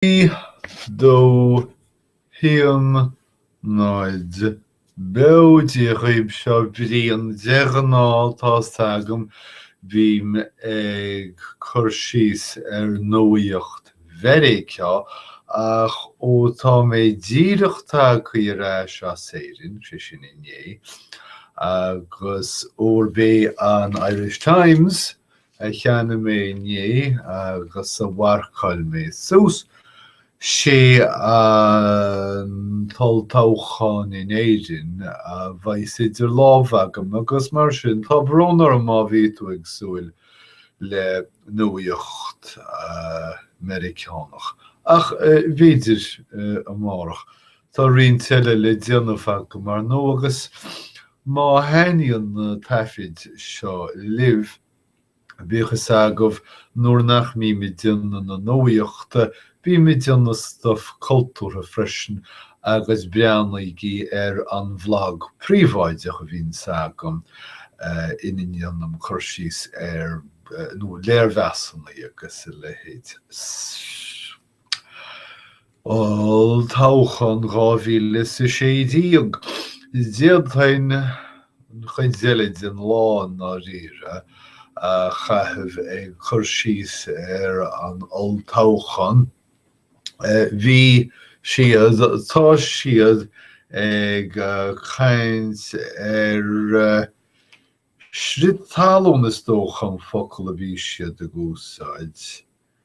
Trí dó haon 0 beo Dia dhaoibh seo Brian de ghnáth tá's agam bím ag cur síos ar nuaíocht Mheiriceá ach ó tá mé díreach tagthaí ar ais as Éirinn, sé sin inné, agus gurb é an Irish Times a cheannaigh mé inné agus a mharcáil mé suas, sé an t-olltoghchán in Éirinn a bheidh idir lámh agam agus mar sin tá brón orm má bhí tú ag súil le nuaíocht Meiriceánach. Ach b'fhéidir amárach. Tá roinnt eile le déanamh agam, ar ndóigh, agus má thaitníonn na taifid seo libh, bíodh a fhios agaibh, nuair nach mbím ag déanamh na nuaíochta, bím ag déanamh stuif cultúrtha freisin, agus breathnaígí ar an bhlag príobháideach a bhíonns agam ina ndéanaim cur síos ar, nó léirmheasanna agus a leithéid. Olltoghchán 2016, D'fhéadfainn an chuid eile den lá i ndáiríre a chaitheamh ag cur síos ar an olltoghchán. Bhí siad, tá siad, ag caint ar chrith talún is dócha an focal a bhí siad ag úsáid.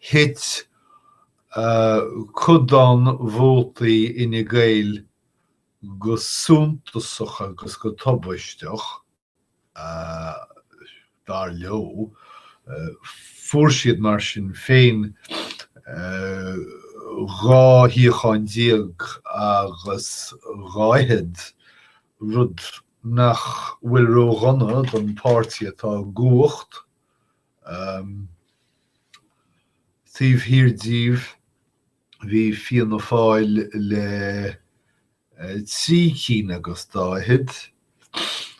thit codán vótaí Fhine Gael go suntasach agus go tubaisteach, dar leo. Fuair siad, mar sin féin, 12 shuíochán agus daichead, rud nach bhfuil ródhona don pháirtí atá i gcumhacht. Taobh thiar díobh bhí Fianna Fáil le trí cinn agus daichead.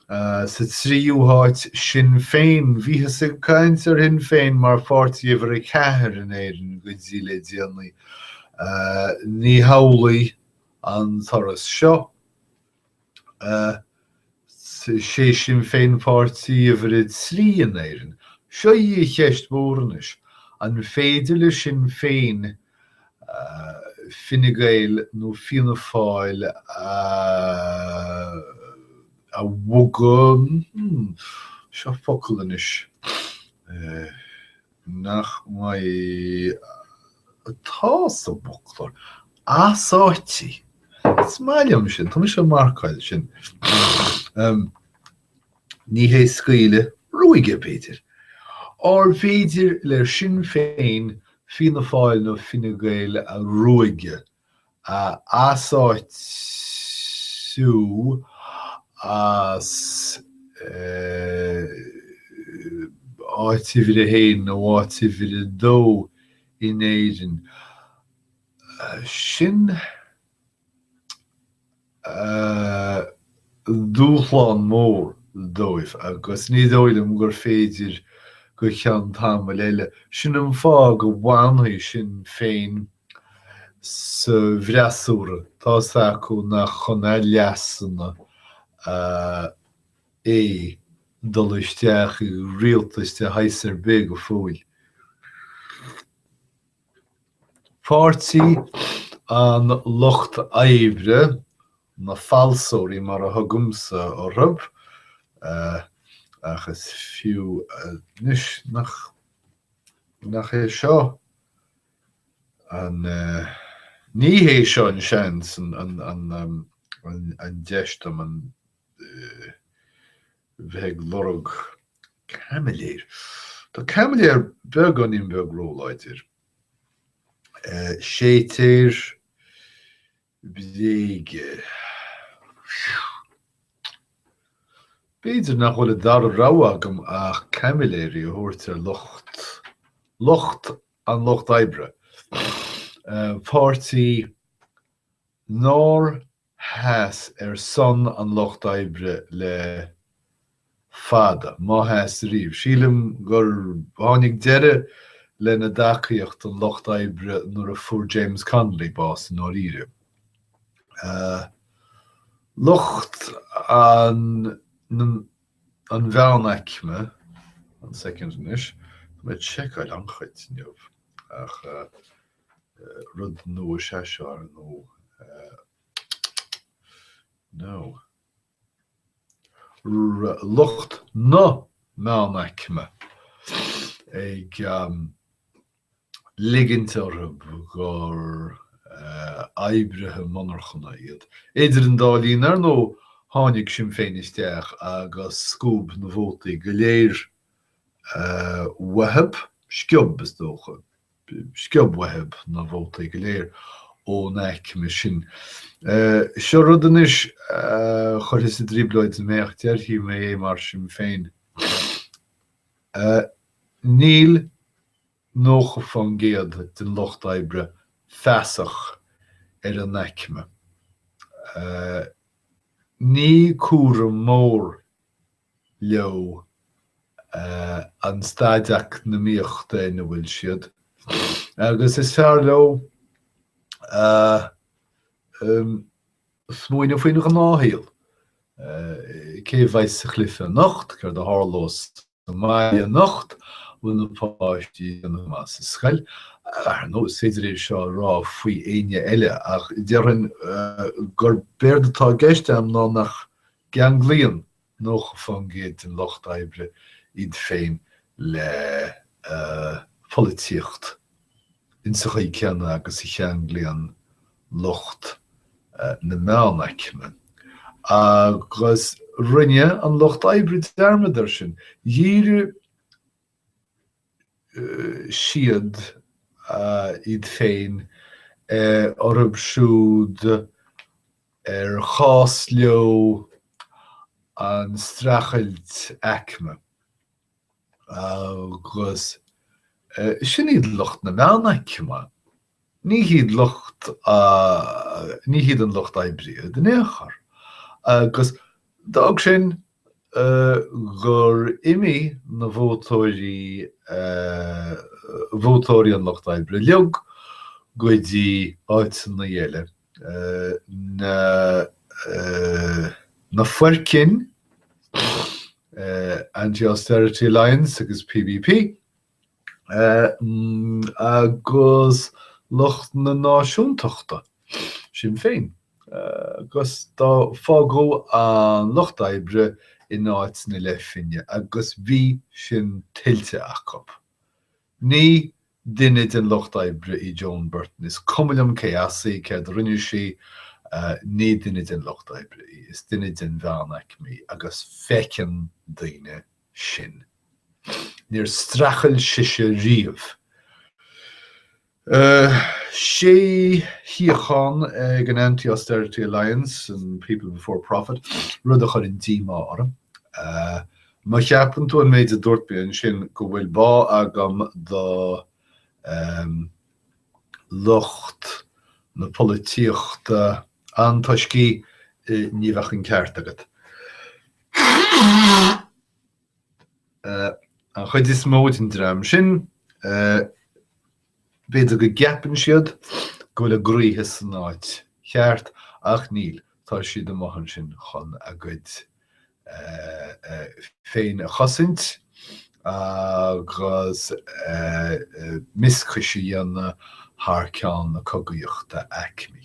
Sa tríú háit Sinn Féin. Bhíothas ag caint ar Shinn Féin mar pháirtí uimhir a ceathair in Éirinn go dtí le déanaí. Ní hamhlaidh an turas seo. sé Sinn Féin páirtí uimhir 3 in Éirinn. Seo í an cheist mhór anois, an féidir le Sinn Féin Fine Gael nó Fianna Fáil a bhogadh, seo focal anois, Nach mbeidh. Tá sé sa bhfoclóir. Easáitiú. Is maith liom sin. Tá mise ag marcáil sin. Ní hé go díreach ruaigeadh, b'fhéidir. Arbh fhéidir le Sinn Féin Fianna Fáil nó Fine Gael a ruaigeadh a easáitiú as áit uimhir a haon nó áit uimhir a dó in Éirinn. Sin. dúshlán mór dóibh agus ní dóigh liom gur féidir go ceann tamaill eile. Sin an fáth go bhfanfaidh Sinn Féin sa bhfreasúra, tá's acu nach chun a leasanna é dul isteach i rialtas de shaghas ar bith go fóill. Páirtí an Lucht Oibre, na falsóirí mar a thugaimse orthu, ach is fiú anois nach é seo an, ní hé seo an seans, an deis dom bheith ag lorg Caimiléir. Tá caimiléir beagáinín beag róláidir. Séitéir bréige. B'fhéidir nach bhfuil an dara rogha agam ach caimiléirí a thabhairt ar lucht, lucht, an lucht oibre. Páirtí nár Sheas ar son an Lucht Oibre le fada, má sheas riamh. Sílim gur tháinig deireadh lena dtacaíocht don Lucht Oibre nuair a fuair James Connolly bás i ndáiríre. Lucht an mheánaicme an soicind anois. Tá mé ag seiceáil an chaint inniu ach. rud nua is ea seo, ar ndóigh. Nó lucht na meánaicme ag ligint orthu gur oibrithe monarchan iad. Idir an dá linn, ar ndóigh, tháinig Sinn Féin isteach agus sciob na vótaí go léir uathu, sciob, is dócha. sciob uathu na vótaí go léir ón aicme sin. Seo rud anois a chuirfidh i dtrioblóid mé ach déarfaidh mé é mar sin féin. Níl 90% den lucht oibre feasach ar a n-aicme. Ní cás mór leo an staid eacnamaíochta ina bhfuil siad agus is fearr leo smaoineamh faoin ghnáthshaol, cé a bheidh sa chluiche anocht, céard a tharlós sa mbaile anocht, an bhfuil na páistí ag déanamh go maith sa scoil. Ar ndóigh, is féidir é seo a rá faoi éinne eile ach déarfainn gurb éard atá i gceist agam ná nach gceanglaíonn 90% den lucht oibre iad féin le polaitíocht in sa chaoi céanna agus a cheanglaíonn lucht na meánaicme. Agus rinne an Lucht Oibre dearmad air sin. Dhírigh siad iad féin ar orthu siúd ar chás leo an streachailt aicme, agus sin iad lucht na meánaicme, ní hiad lucht, ní hiad an lucht oibre iad in aon chor. Agus d'fhág sin gur imigh na vótóirí, vótóirí an lucht oibre, leo go dtí áiteanna eile. na foircinn anti austerity alliance agus PBP agus lucht na náisiúntachta Sinn Féin agus do fágadh an lucht oibre in áit na leathphingine agus bhí sin tuillte acu. Ní duine den lucht oibre í Joan Burton, is cuma liom cé as í, céard a rinne sí, ní duine den lucht oibre í, is duine den mheánaicme í agus feiceann daoine sin. Níor streachail sise riamh. Sé shuíochán ag an Anti-Austerity Alliance, and People Before Profit, rud a chuireann díomá orm. Má cheapann tú ón méid a dúirt mé ansin go bhfuil bá agam do lucht na polaitíochta antoiscí, ní bheadh an ceart agat. An chuid is mó den dream sin, b'fhéidir go gceapann siad go bhfuil a gcroíthe san áit cheart, ach níl, tá siad amuigh ansin chun a gcuid féin a chosaint agus mioscais a dhéanamh thar ceann na cogaíochta aicmí.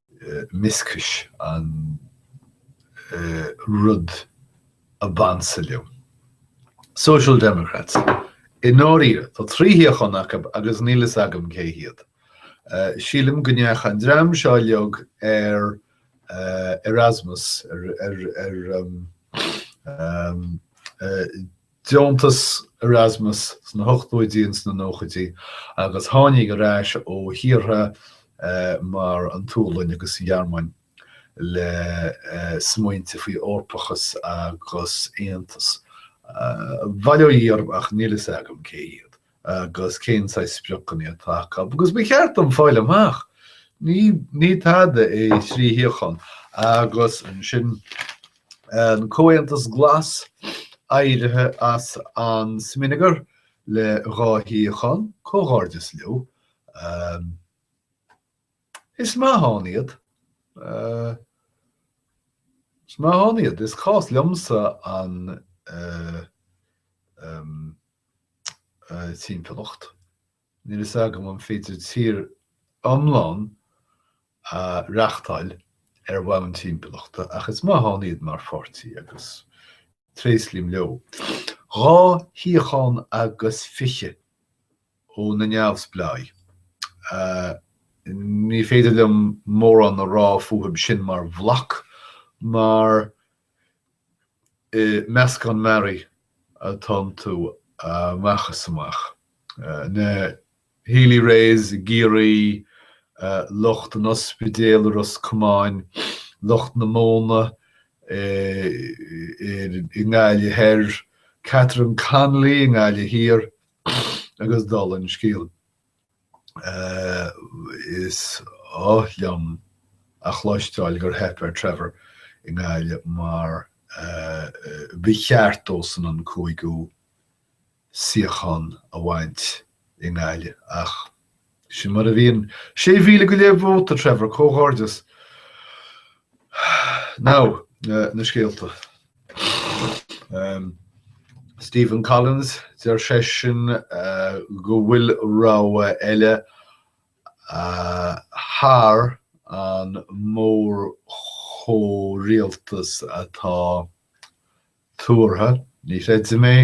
mioscais an rud ab ansa leo. Social Democrats, i ndáiríre, tá trí shuíochán acu agus níl fhios agam cé hiad. Sílim go ndeachaigh an dream seo uilig ar Erasmus, ar deontas Erasmus sna hochtóidí nó sna nóchaidí agus tháinig ar ais ó thíortha mar an tSualainn agus an Ghearmáin le smaointe faoi Eorpachas agus aontas. Bail ó Dhia orthu ach níl fhios agam cé hiad. Agus cén saghas spriocanna atá acu? Agus ba cheart dom fáil amach. Ní tada é trí shuíochán. Agus ansin, an Comhaontas Glas éirithe as an smionagar le dhá shuíochán, comhghairdeas leo. Is maith ann iad. Is maith ann iad. Is cás liomsa an. timpeallacht. Níl fhios agam an féidir tír iomlán a reachtáil ar bhonn timpeallachta ach is maith ann iad mar pháirtí agus tréaslaím leo. Dhá shuíochán agus fiche ó na neamhspleáigh. Ní féidir liom mórán a rá fúthu sin mar bhloc mar Is meascán mearaí atá iontu amach is amach, na Healy-Raes i gCiarraí, lucht an ospidéil i Ros Comáin, lucht na móna i nGaillimh Thoir, Catherine Connolly i nGaillimh Thiar agus dála an scéil. Is oth liom a chloisteáil gur theip ar Trevor i nGaillimh mar ba cheart dósan an cúigiú suíochán a bhaint i nGaillimh ach sin mar a bhíonn. Sé mhíle go leith vóta, Trevor, comhghairdeas! Now, na scéalta. Stephen Collins, deir seisean go bhfuil rogha eile thar an mórchomhrialtas atá tuartha. Ní chreidim é.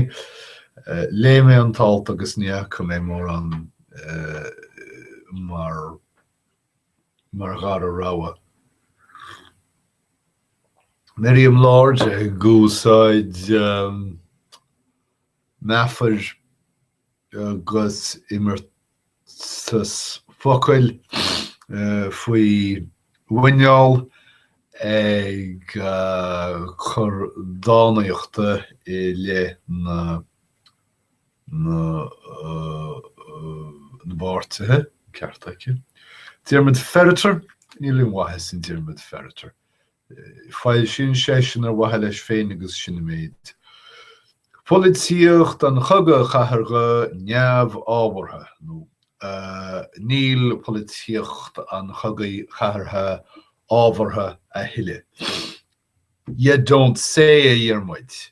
Léigh mé an t-alt agus ní fhaca mé mórán ann mar. mar dhara rogha. Miriam Lord ag úsáid meafair agus imeartas focail faoi mhuinéal ag cur dánaíochta i leith na. na bpáirtithe, an ceart aici. Diarmaid Ferriter, níl aon mhaitheas in Diarmaid Ferriter. Foilsíonn seisean ar mhaithe leis féin agus sin an méid. Polaitíocht an chogaidh chathardha neamhábhartha, nó níl polaitíocht an chogaidh chathardha ábhartha a thuilleadh. Ya don't say, a Dhiarmuid!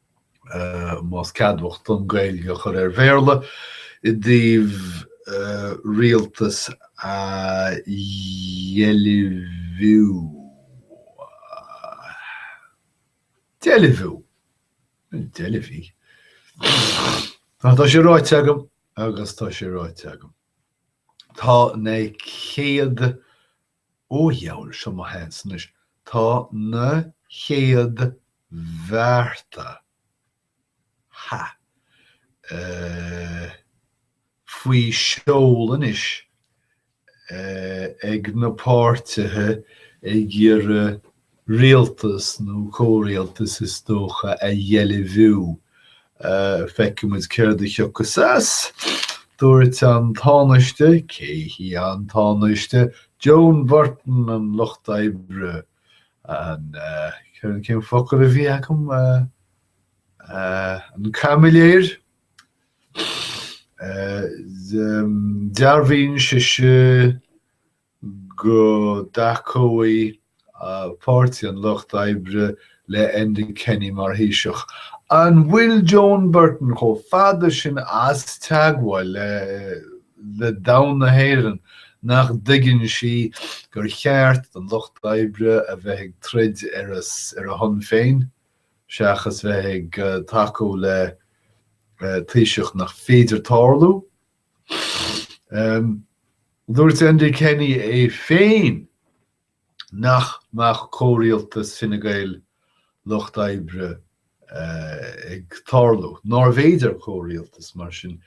más ceadmhach dom Gaeilge a chur ar Bhéarla i dtaobh rialtas a dheilbhiú. Deilbhiú? Deilbhiú, tá sé ráite agam agus tá sé ráite agam. Tá na chéad Ó a dhiabhail, seo mo sheans anois, tá na chéad bhearta, ha, eh, faoi sheol anois, eh, ag na páirtithe ag iarraidh rialtas, nó comhrialtas is dócha, a dheilbhiú. Feicfimid céard a thiocfas as. Dúirt an Tánaiste, cé hí an Tánaiste? Joan Burton an Lucht Oibre, an, céard, cén focal a bhí agam? an caimiléir? Dearbhaíonn sise. go dtacóidh Páirtí an Lucht Oibre le Enda Kenny mar Thaoiseach. An bhfuil Joan Burton chomh fada sin as teagmháil le domhan na hÉireann nach dtuigeann sí gur cheart don Lucht Oibre a bheith ag troid ar a shon féin seachas bheith ag tacú le Taoiseach nach féidir tarlú? Dúirt Enda Kenny é féin nach mbeadh comhrialtas Fine Gael, Lucht Oibre ag tarlú, nárbh fhéidir comhrialtas mar sin.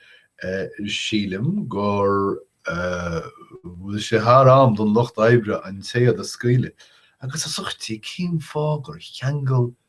Sílim go bhfuil sé thar am don Lucht Oibre an téad a scaoileadh agus a thugtaí cén fáth gur cheangail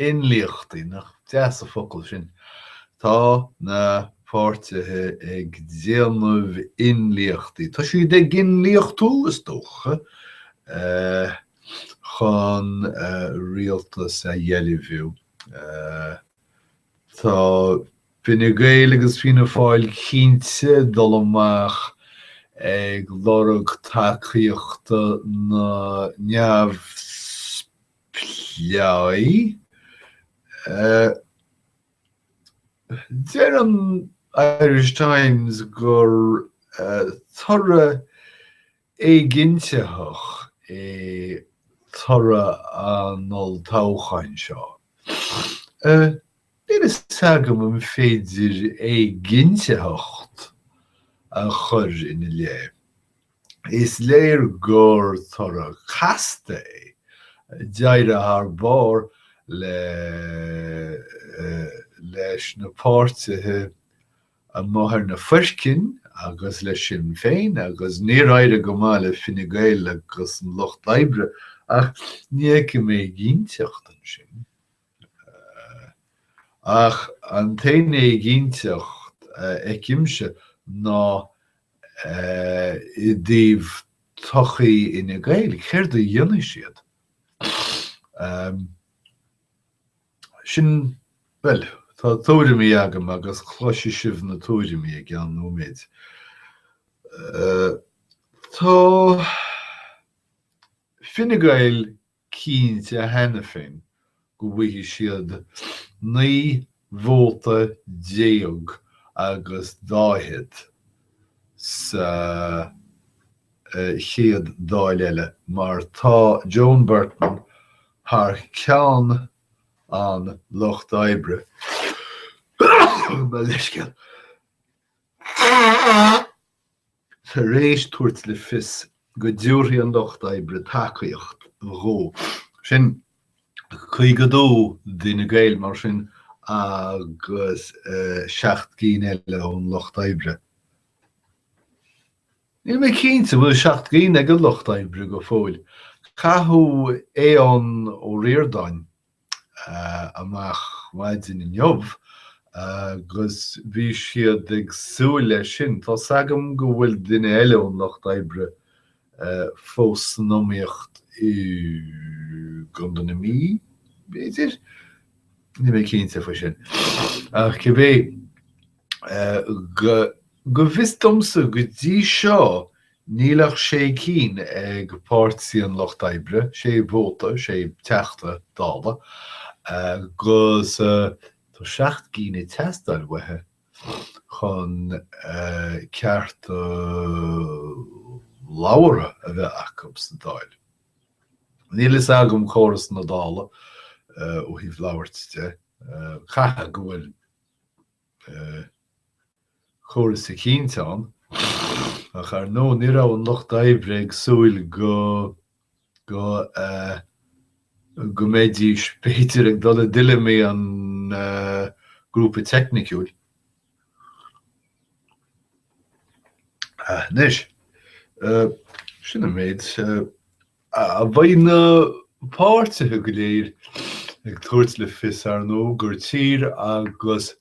Inlíochtaí, nach deas an focal sin? Tá na páirtithe ag déanamh inlíochtaí, tá siad ag inlíochtú is dócha, chun rialtas a dheilbhiú. Tá Fine Gael agus Fianna Fáil cinnte ag dul amach ag lorg tacaíochta na neamhspleách. plé. Deir an Irish Times gur toradh éiginntitheach é toradh an olltoghcháin seo. Níl fhios agam an féidir éiginntitheacht a chur ina leith. Is léir gur toradh casta é. D'éirigh thar barr le leis na páirtithe amuigh ar na foircinn agus le Sinn Féin agus níor éirigh go maith le Fine Gael agus an Lucht Oibre, ach ní fheicim éiginnteacht ansin. Ach an t-aon éiginnteacht a fheicimse ná i dtaobh todhchaí Fhine Gael, céard a dhéanfaidh siad? Sin, bhuel, tá tuairimí agam agus cloisfidh sibh na tuairimí i gceann nóiméid. Tá Fine Gael cinnte cheana féin go bhfaighidh siad 19 vóta agus daichead sa chéad Dáil eile mar tá Joan Burton thar ceann an Lucht Oibre mo leithscéal. tar éis tabhairt le fios go dtabharfaidh an Lucht Oibre tacaíocht dhó. Sin 52 d'Fhine Gael, mar sin, agus seacht gcinn eile ón Lucht Oibre. Níl mé cinnte an bhfuil seacht gcinn ag an Lucht Oibre go fóill. Caitheadh Aodhán Ó Ríordáin amach maidin inniu agus bhí siad ag súil leis sin. Tá's agam go bhfuil duine eile ón Lucht Oibre fós san iomaíocht i gContae na Mí, b'fhéidir? Níl mé cinnte faoi sin. Ach cibé, Go bhfios domsa, go dtí seo, níl ach sé cinn ag Páirtí an Lucht Oibre, sé vóta, sé Teachta Dála, agus tá seacht gcinn ag teastáil uathu chun cearta labhartha a bheith acu sa Dáil. Níl a fhios agam córas na Dála ó thaobh labhairt de, caithfidh go bhfuil. córas eicínt ann, ach ar ndóigh ní raibh an Lucht Oibre ag súil go, go, go mbeidís b'fhéidir ag dul i dtuilleamaí an Grúpa Teicniciúil. Anois, sin an méid. Beidh na páirtithe go léir ag tabhairt le fios, ar ndóigh, gur tír agus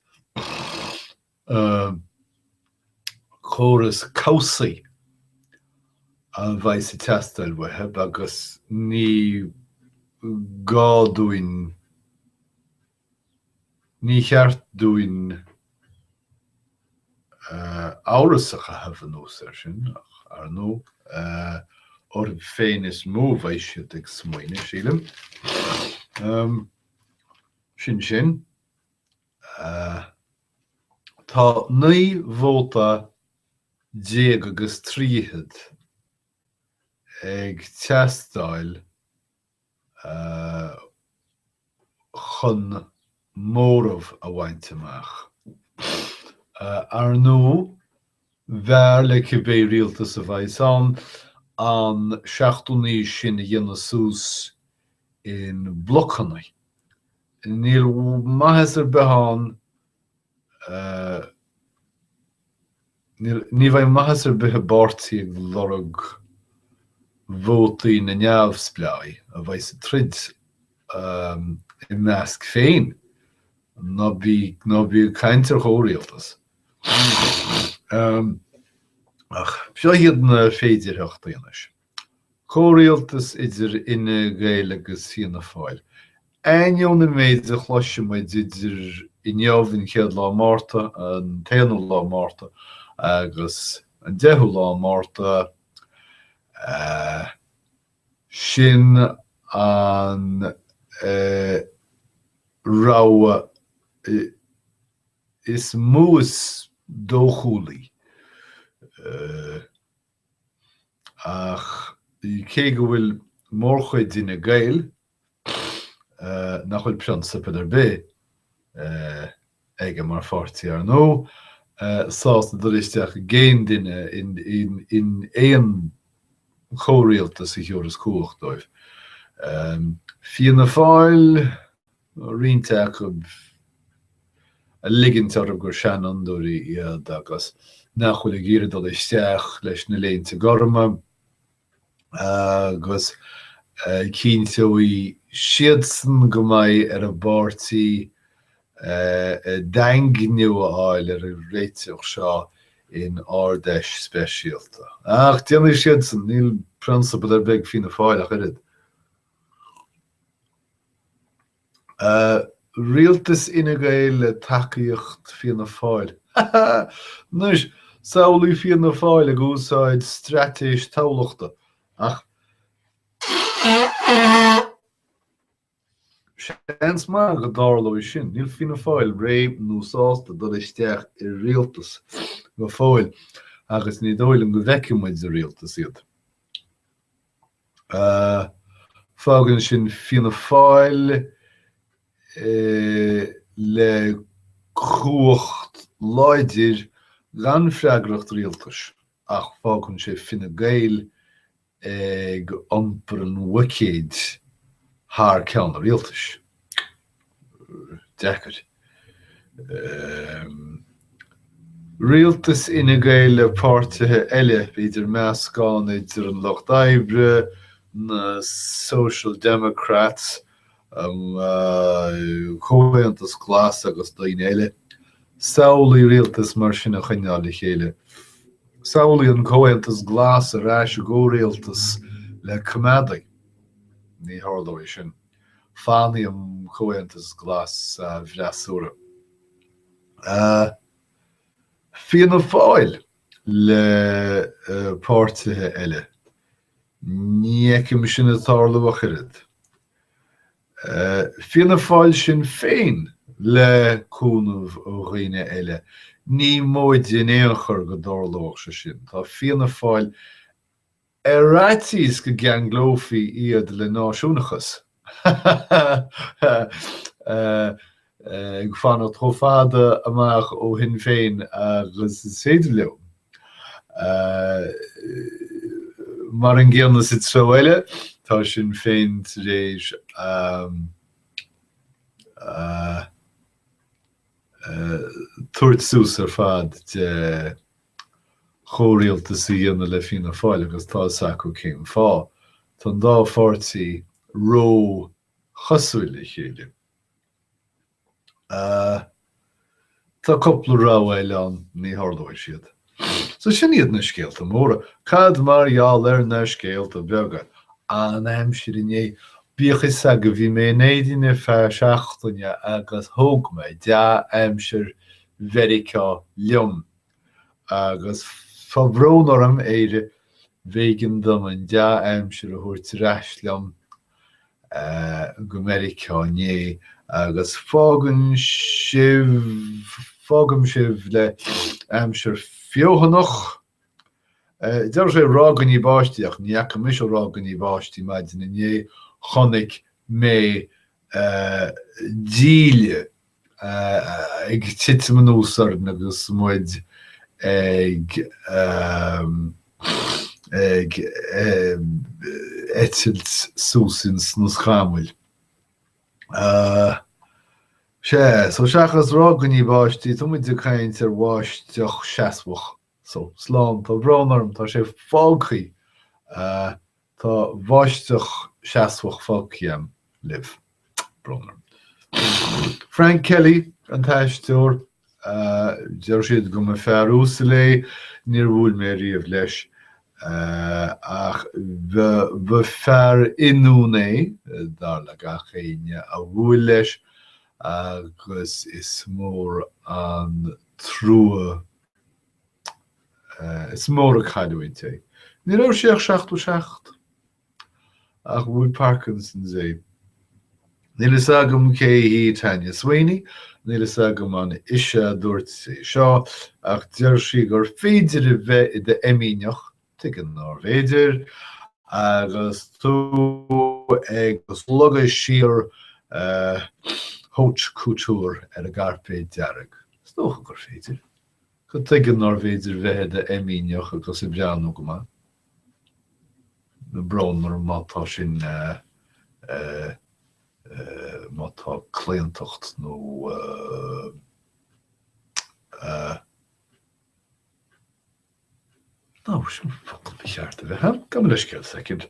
córas cobhsaí a bheas ag teastáil uathu agus ní gá dúinn, Ní cheart dúinn amhras a chaitheamh anuas air sin, ach, ar ndóigh, orthu féin is mó a bheidh siad ag smaoineamh, sílim. Sin sin. Tá naoi vóta déag agus trí fichid ag teastáil. chun móramh a bhaint amach. Ar ndóigh, b'fhearr le cibé rialtas a bheas ann an seachtó naoi sin a dhéanamh suas ina mblocanna. Níl maitheas ar bith ann Ní bheidh maitheas ar bith i bpáirtí ag lorg vótaí na neamhspleáigh a bheidh sa troid ina measc féin, ná bí ag caint ar chomhrialtas. Ach seo iad na féidearthachtaí anois. Comhrialtas idir Fhine Gael agus Fianna Fáil. Ainneoin an méid a chloisfidh muid idir inniu, an chéad lá Márta, an t-aonú lá Márta agus an deichiú lá Márta, sin an rogha is mó is dóchúlaí. Ach cé go bhfuil mórchuid d'Fhine Gael nach bhfuil prionsabail ar bith acu mar pháirtí, ar ndóigh, sásta dul isteach i gcéin dhuine in aon chomhrialtas a thiúrfas cumhacht dóibh, Fianna Fáil, nó roinnt acu, ag ligint orthu gur seanfhondúirí iad agus nach bhfuil ag iarraidh dul isteach leis na léinte gorma agus cinnteoidh siadsan go mbeidh ar an bpáirtí daingniú a fháil ar an réiteach seo in Ard-Fheis speisialta. Ach déanfaidh siad sin, níl prionsabal ar bith ag Fianna Fáil ach oiread. Rialtas Fhine Gael le tacaíocht Fianna Fáil. Anois, samhlaigh Fianna Fáil ag úsáid straitéis Thamhlachta, ach seans maith go dtarlóidh sin. Níl Fianna Fáil réidh nó sásta dul isteach i rialtas go fóill, agus ní dóigh liom go bhfeicfidh muid i rialtas iad. Fágann sin Fianna Fáil le cumhacht láidir gan freagracht rialtais ach fágann sé Fine Gael ag iompar an bhuicéid thar ceann an rialtais. deacair. Rialtas Fhine Gael le páirtithe eile, b'fhéidir meascán idir an Lucht Oibre, na Social Democrats, an Comhaontas Glas agus daoine eile. Samhlaigh rialtas mar sin a choinneáil le chéile. Samhlaigh an Comhaontas Glas ar ais i gcomhrialtas le Coimeádaigh. Ní tharlóidh sin. Fanfaidh an Comhaontas Glas sa bhfreasúra. Fianna Fáil le páirtithe eile, ní fheicim sin ag tarlú ach oiread. Fianna Fáil-Sinn Féin le cúnamh ó dhaoine eile, ní móide in aon chor go dtarlóidh sé sin. Tá Fianna Fáil Ar fhaitíos go gceanglófaí iad le náisiúnachas, ag fanacht chomh fada amach ó Shinn Féin agus is féidir leo. Mar an gcéanna sa treo eile, tá Sinn Féin tar éis tabhairt suas ar fad de chomhrialtas a dhéanamh le Fianna Fáil agus tá fhios acu cén fáth. Tá an dá pháirtí ró-chosúil le chéile. Tá cúpla rogha eile ann, ní tharlóidh siad. So sin iad na scéalta móra. Cad mar gheall ar na scéalta beaga? An aimsir inné. Bíodh fhios agaibh, bhí mé in Éirinn ar feadh seachtaine agus thóg mé dea-aimsir Mheiriceá liom. Agus tá brón orm, Éire, b'éigean dom an dea-aimsir a thabhairt ar ais liom go Meiriceá inné, agus fágann sibh, fágaim sibh le aimsir feothanach. Déarfadh sé ráiginí báistí, ach ní fhaca mise ráiginí báistí maidin inné, chonaic mé díle. ag titim anuas orainn agus muid ag eitilt suas ins na scamaill. Sea, so seachas ráiginí báistí, tá muid ag caint ar bháisteach seasmhach. So, slán, tá brón orm, tá sé fágtha. Tá bháisteach seasmhach fágtha agam libh. Brón orm. Frank Kelly an t-aisteoir. Deir siad go mba fear uasal é. Níor bhuail mé riamh leis. Ach ba fear ionúin é, dar le gach éinne a bhuail leis, agus is mór an trua Is mór an cailliúint é. Ní raibh sé ach seachtó seacht. Ach bhuail Parkinsons é. Níl fhios agam cé hí Tanya Sweeney, níl fhios agam an ise a dúirt é seo, ach deir sí gur féidir a bheith i d'fheimíneach, tuige nárbh fhéidir, agus tú ag slogadh siar an haute couture ar an gcairpéad dearg. Is dócha gur féidir. go tuige nárbh fhéidir bheith i d'fheimíneach agus ag breathnú go maith. Brón orm má tá sin, má tá claontacht nó nó an focal mícheart a bheith ann, gabh mo leithscéal, soicind.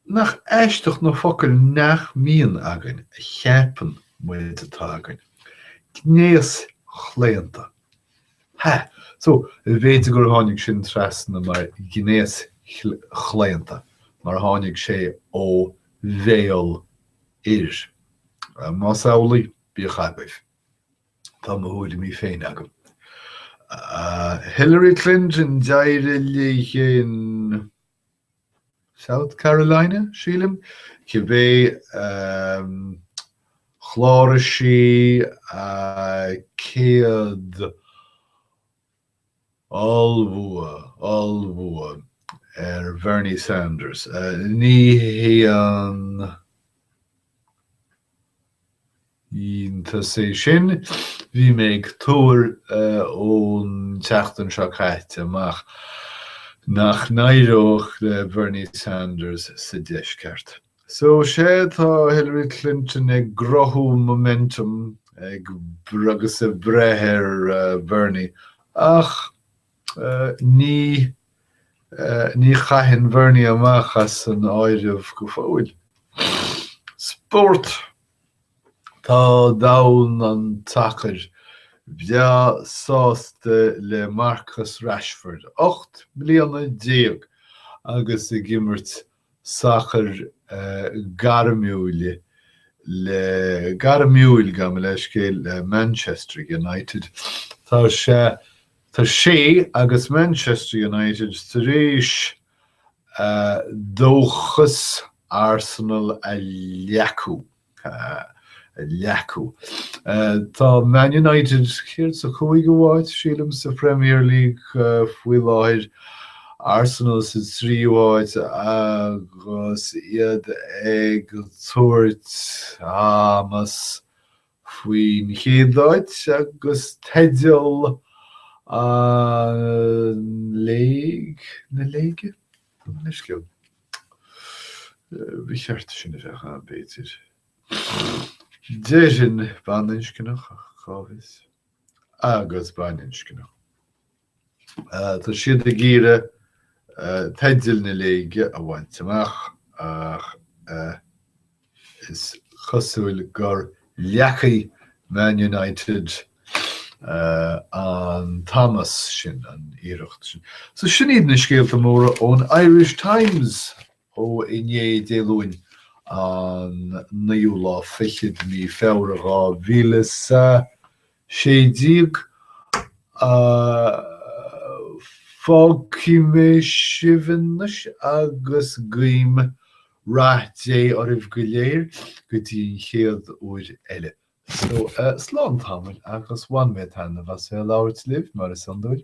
Nach aisteach na focail nach mbíonn againn a cheapann muid atá againn. Gnéaschlaonta. Ha! So, b'fhéidir gur tháinig sin trasna mar gnéaschlaonta mar tháinig sé ó bhéal fhir. Más amhlaidh, bíodh agaibh. Tá mo thuairimí féin agam. Hillary Clinton, d'éirigh léi in South Carolina, sílim, cibé, chláraigh sí 100 Ollbhua, ollbhua ar Bernie Sanders. Ní haon iontas é sin. Bhí mé ag tuar ón tseachtain seo caite amach nach n-éireodh le Bernie Sanders sa Deisceart. So sea, tá Hillary Clinton ag cruthú momentum ag agus ag breith ar Bernie, ach ní ní chaithfinn Bernie amach as an áireamh go fóill. Spórt Tá domhan an tsacair breá sásta le Marcus Rashford, ocht mbliana déag agus ag imirt sacair gairmiúil le gairmiúil, gabh mo leithscéal, le Manchester United. Tá sé Tá sé agus Manchester United tar éis dóchas Arsenal a leacú. leacú. Tá Man United, céard, sa chúigiú háit, sílim, sa Premier League faoi láthair, Arsenal sa tríú háit agus iad ag tabhairt amas faoin chéad áit agus teideal an léig, na léige? Tá mé leisciúil. Ba cheart sin a bheith ann, b'fhéidir. Déarfainn baininscneach ach cá bhfios? Agus baininscneach. Tá siad ag iarraidh teidil na léige a bhaint amach ach eh. Is cosúil gur leacaigh Man United an t-amas sin, an iarracht sin. So sin iad na scéalta móra ón Irish Times ó inné, Dé Luain, an naoú lá fichead de mí Feabhra, dhá mhíle 'is a. Fágfaidh mé sibh anois agus guím rath Dé oraibh go léir go dtí an chéad uair eile. So, slán tamaill agus bhain mé taitneamh as bheith ag labhairt libh, mar is iondúil.